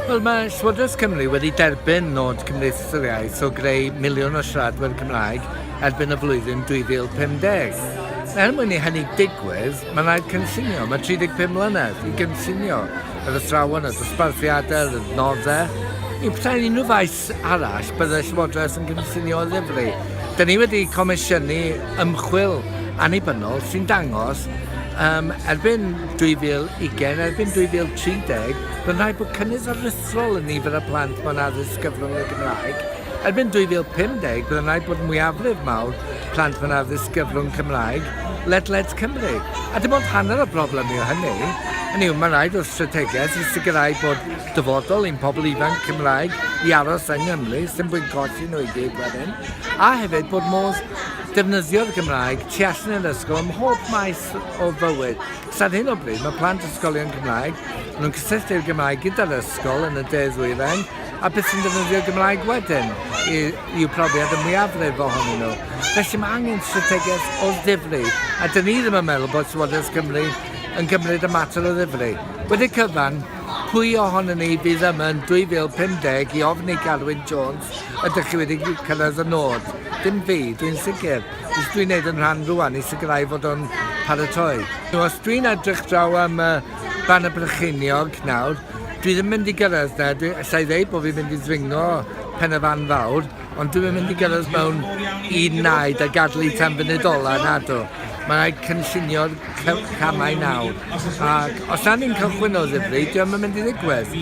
Wel, mae Llywodraeth Cymru wedi derbyn nod Cymdeithas yr Iaith o greu miliwn o siaradwyr Cymraeg erbyn y flwyddyn 2050. Er mwyn i hynny digwydd, mae'n rhaid cynllunio, mae 35 mlynedd i gynllunio yr athrawon, y dosbarthiadau, yr adnoddau, i pethau unrhyw faes arall, byddai'r Llywodraeth yn cynllunio oddefru. Dyn ni wedi comisiynu ymchwil annibynnol sy'n dangos um, erbyn 2020, erbyn 2030, bydd rhaid bod cynnydd aruthrol yn nifer y plant mewn addysg gyfrwng y Gymraeg. Erbyn 2050, bydd rhaid bod mwyafrif mawr plant mewn addysg gyfrwng Cymraeg ledled Cymru. A dim ond hanner o broblem yw hynny. Hynny yw, mae'n rhaid o'r strategaeth i sicrhau bod dyfodol i'n pobl ifanc Cymraeg i aros yng Nghymru, sy'n fwy colli nhw i gyd wedyn, a hefyd bod modd defnyddio'r Gymraeg tu allan i'r ysgol ym mhob maes o fywyd. Cos ar hyn o bryd mae plant ysgolion Cymraeg, maen nhw'n cysylltu'r Gymraeg gyda'r ysgol yn y de-ddwyrain, a beth sy'n defnyddio'r Gymraeg wedyn i, i'w profiad y mwyafrif ohonyn nhw. Felly mae angen strategaeth o ddifri, a dyn ni ddim yn meddwl bod Llywodraeth Cymru yn gymryd y mater o ddifri. Wedi cyfan, Pwy ohonon ni fydd yma yn 2050 i ofn i Garwyn Jones, ydych chi wedi cyrraedd y nod? Dim fi, dwi'n sicr. Beth dwi'n neud yn rhan rwan i sicrhau fod o'n paratoi? Os dwi'n edrych draw am y Banner Brycheiniog nawr, dwi ddim mynd i gyrraedd 'na, dwi... allai ddeud bod fi'n mynd i ddringo pen y fan fawr, Ond dwi'm yn mynd i gyrraedd mewn un naid a gadlu tan funud ola, nadw. Mae'n rhaid cynllunio'r camau nawr. Ac os na ni'n cychwyn o ddifri, diolch yn mynd i ddigwydd.